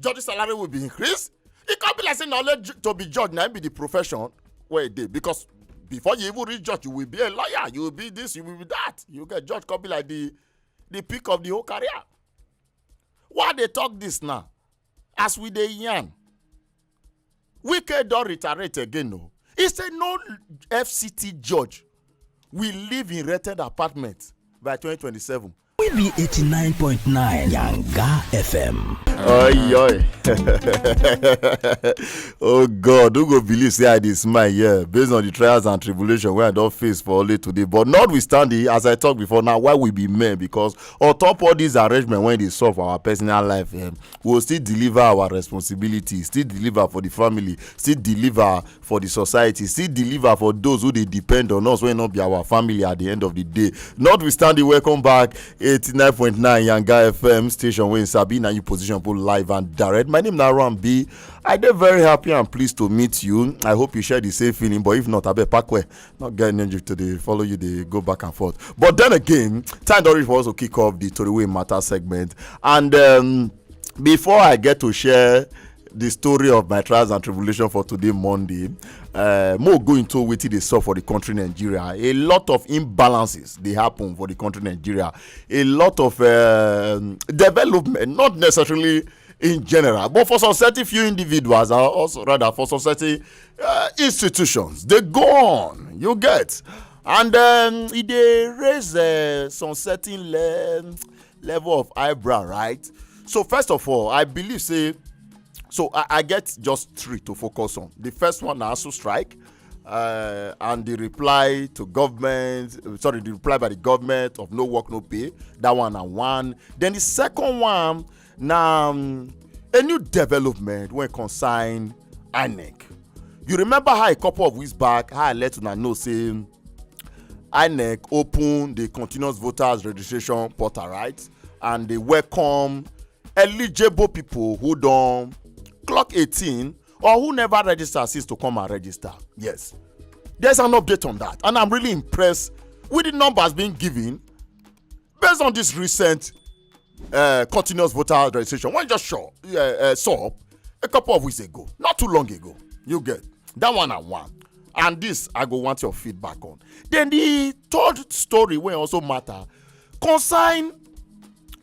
judge salary will be increased e come be like say na only to be judge na be the profession wey e dey because before you even reach judge you will be a lawyer you will be this you will be that you get judge come be like the the peak of the whole career why dey talk this now as we dey yarn wike don reiterate again o he say no fct judge will live in rented apartment by 2027 We be 89.9 Yanga FM. Oi, oi. oh God, who go believe say I dey smile yeah, based on the trials and tribulation wey I don face for only today. But notwithstanding, as I talk before now, why we be men because on top all these arrangements when they solve our personal life, um, we go still deliver our responsibility still deliver for di family still deliver for di society still deliver for those who dey depend on us wey no be our family at di end of di day notwithstanding welcome back 89.9 yanga fm station wey sabi na you position put live and direct my name na rambi i dey very happy and pleased to meet you i hope you share di same feeling but if not abeg pack well not get energy to dey follow you dey go back and forth but then again time don reach for us to kick off the tori wey matter segment and um, before i get to share the story of my trials and tribulation for today monday uh, more go into wetin dey sup for the country nigeria a lot of imbalances dey happen for the country nigeria a lot of uh, development not necessarily in general but for some certain few individuals or also rather for some certain uh, institutions they go on you get and um, e dey raise uh, some certain le level of eyebrow right so first of all i believe say so i, I get just three to focus on the first one na asu strike uh, and the reply to government sorry the reply by the government of no work no pay that one na one then the second one na um, a new development wey concern inec you remember how a couple of weeks back how i let una know say inec open the continuous voters registration portal right and dey welcome eligible people who don clock 18 or who never register since to come and register yes there's an update on that and i'm really impressed with the numbers being given based on this recent uh, continuous voter registration when just show uh, uh, saw a couple of weeks ago not too long ago you get that one and one and this i go want your feedback on then the third story wey also matter concern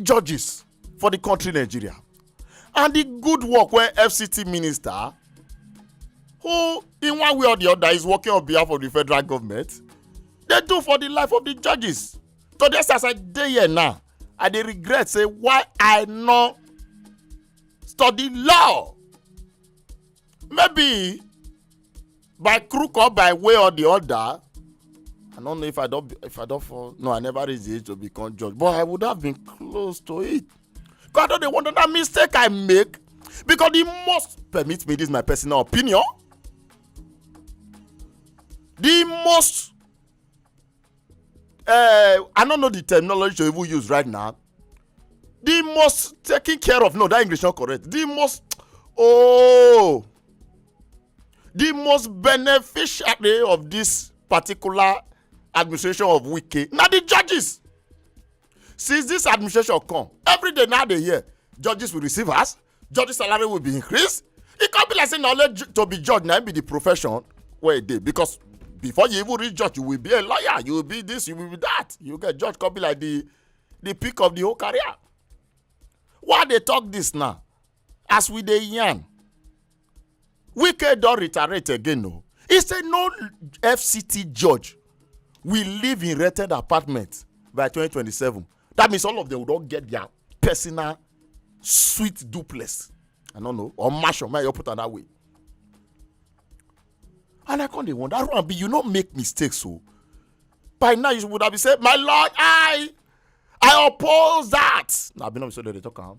judges for the country nigeria and the good work wey fct minister who in one way or the other is working on behalf of the federal government dey do for the life of the judges to this as i dey here now i dey regret say why i no study law maybe by crook or by way or the other i don't know if i don't if i don't fall no i never reach the age to become judge but i would have been close to it god don dey wonder that mistake i make because he must permit me this is my personal opinion the most uh, i no know the terminology to even use right now the most taken care of no that english not correct the most oh the most beneficiary of this particular administration of wike na the judges since this administration come every day now dey hear judges will receive us judge salary will be increased e come be like say na only to be judge na be the profession wey e dey because before you even reach judge you will be a lawyer you will be this you will be that you get judge come be like the the peak of the whole career why dey talk this now as we dey yarn wike don reiterate again o he say no fct judge will live in rented apartment by 2027 that means all of them don get their personal sweet duplex i no know or mansion may i put am that way and i come dey wonder run be you no make mistakes o oh. by now you would have been say my lord i i oppose that na be no be so dem dey talk am.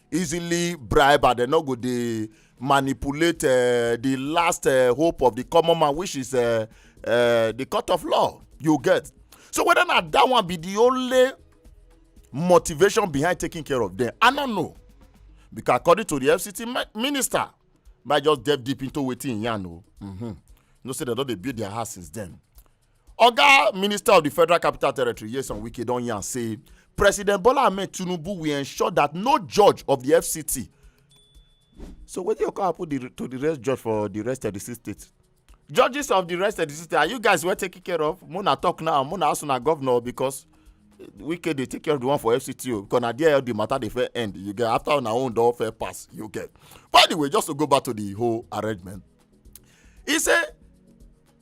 easily bribe and dem no go dey manipulate uh, the last uh, hope of the common man which is uh, uh, the court of law you get so whether na that one be the only motivation behind taking care of them i no know because according to the fct minister might just delve deep into wetin yan o mm -hmm. no say dem don dey build their house since then oga minister of di federal capital territory yeson wike don yarn say president bola ahmed tinubu will ensure that no judge of di fct so wetin go come happen to di rest judge for di rest of di six states judges of the rest of the system are you guys well taken care of mona talk now mona also na governor because wike dey take care of the one for fct o because na there all the matter dey fair end you get after una own don fair pass you get but anyway just to go back to the whole arrangement he say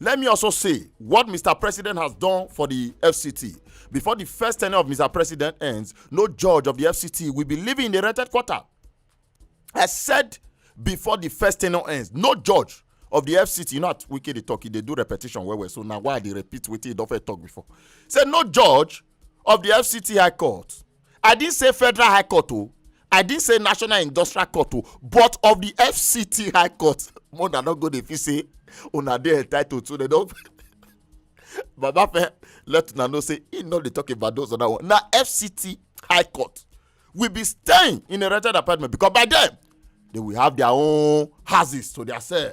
Let me also say what Mr. President has done for the FCT. Before the first tenure of Mr. President ends, no judge of the FCT will be living in the rented quarter. I said before the first tenure ends, no judge of the fct you know at wike dey talk e dey do repetition well well so na why i dey repeat wetin e don first talk before say no judge of the fct high court i didn't say federal high court o oh. i didn't say national industrial court o oh, but of the fct high court more than not go dey fit say una dey entitled to dem don baba fẹ let una know say he no dey talk about those other one na fct high court will be staying in a rented apartment because by then they will have their own houses to their self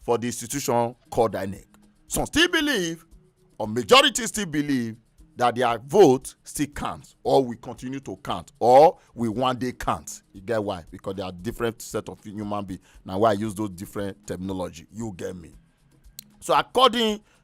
for di institution called inec some still believe or majority still believe that their vote still count or we continue to count or we one day count you get why because they are different set of human being na why i use those different terminology you get me so according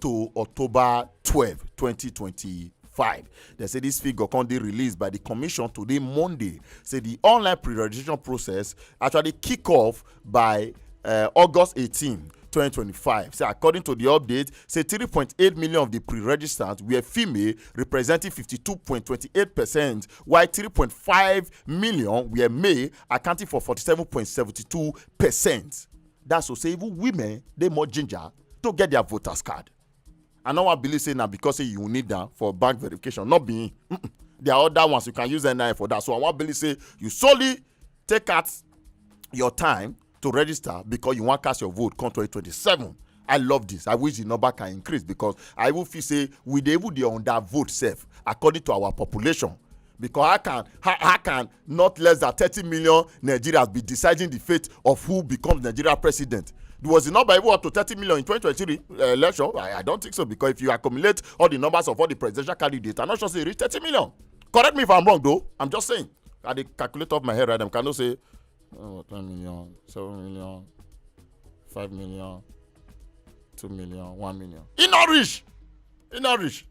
to october twelve twenty twenty five dem say dis figure come dey released by di commission today monday say di online pre-registration process actually kick off by uh, august eighteen 2025. Say according to the update, say 3.8 million of the pre-registrants were female, representing 52.28%, while 3.5 million were male, accounting for 47.72%. That's to say even women they more ginger to get their voters card i no wan believe say na because say you need am for bank verification not be him mm -mm. there are other ones you can use nin for that so i wan believe say you solely take out your time to register because you wan cast your vote come 2027 i love this i wish the number can increase because i even feel say we dey even dey under vote sef according to our population because how can how, how can not less than thirty million nigerians be deciding the fate of who becomes nigeria president was the number even up to thirty million in twenty twenty three uh, election I, I don't think so because if you accumulate all the numbers of all the presidential candidates i'm not sure say e reach thirty million correct me if i'm wrong though i'm just saying i dey calculate off my head right now cannot say oh, ten million seven million five million two million one million e no reach e no reach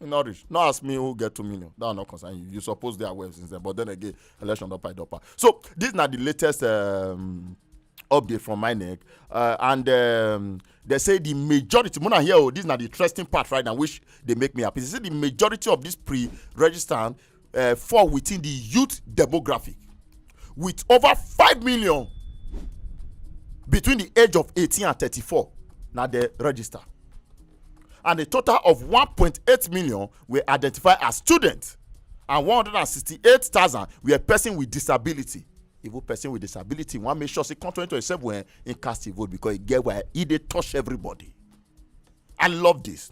e no reach no ask me who get two million that one no concern you you suppose dey aware since then but then again election don pile up so this na the latest um, update from my neck uh, and um, they say the majority mona here oh this na the interesting part right now which dey make me happy they say the majority of these pre-registrant uh, fall within the youth demographic, with over 5 million between the age of 18 and 34 now they register and a total of 1.8 million were identified as students and 168,000 were person with disability even person with disability wan make sure say come 2027 when he cast a vote because he get why he dey touch everybody i love this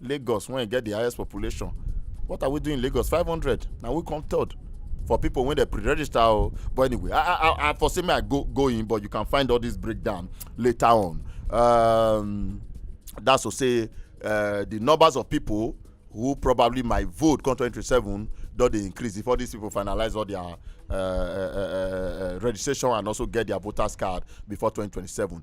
lagos when e get the highest population what are we doing in lagos 500 na we come third for people when they pre-register oh. but anyway i i i for say me i go go in but you can find all this breakdown later on um, that's to say uh, the numbers of people who probably might vote come 2027 don dey increase before these people finalize all their uh, uh, uh, uh, registration and also get their voters card before 2027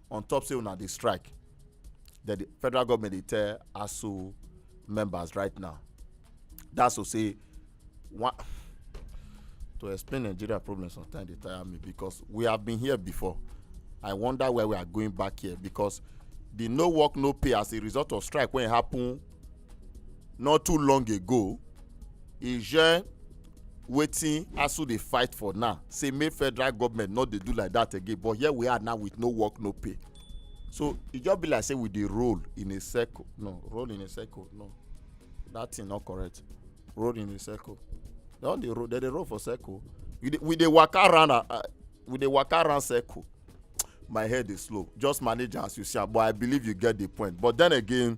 on top say una dey strike that the federal government dey tell aso members right now that's to say one to explain nigeria problem sometimes dey tire me because we have been here before i wonder where we are going back here because the no work no pay as a result of strike wey happen not too long ago e share wetin asu dey fight for now say make federal government no dey do like that again but here we are now with no work no pay so e just be like say we dey roll in a circle no roll in a circle no that thing no correct roll in a circle they don dey roll they dey roll for circle we dey we dey waka round uh, uh, we dey waka round circle my head dey slow just manage am as you see am but i believe you get the point but then again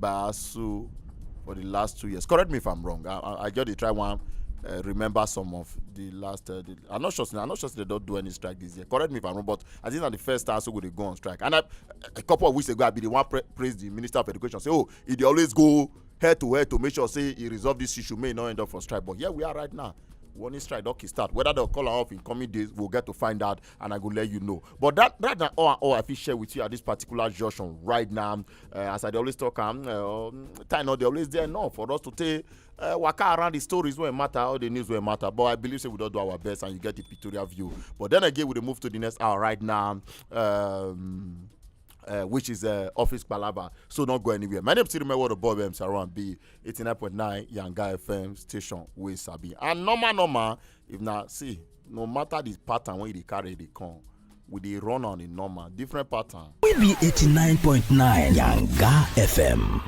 Baasu for the last two years. Correct me if I'm wrong. I, I, I just dey try one uh, remember some of the last. Uh, the, I'm not sure. I'm not sure they don't do any strike this year. Correct me if I'm wrong, but I think that the first time so go they go on strike. And I, a couple of weeks ago, I be the one pra praise the minister of education. Say, oh, he they always go head to head to make sure say he resolve this issue. May not end up for strike, but here we are right now. warning strike don kick start whether dem call am off in coming days we'll get to find out and i go let you know but that that na all and all i fit share with you at this particular junction right now uh, as i dey always talk am uh, um, time no dey always there enough for us to take uh, waka around the stories wey matter all the news wey matter but i believe say we don do our best and you get the pictorial view but then again we dey move to the next hour right now. Um, uh, which is uh, Office Palaba. So don't go anywhere. My name is Tirume Ward of Bob M. Saran B. 89.9 Yanga FM station with Sabi. And normal, normal, if na see no matter the pattern wey you dey carry dey come we dey run on a normal different pattern. we be eighty nine point nine yanga fm.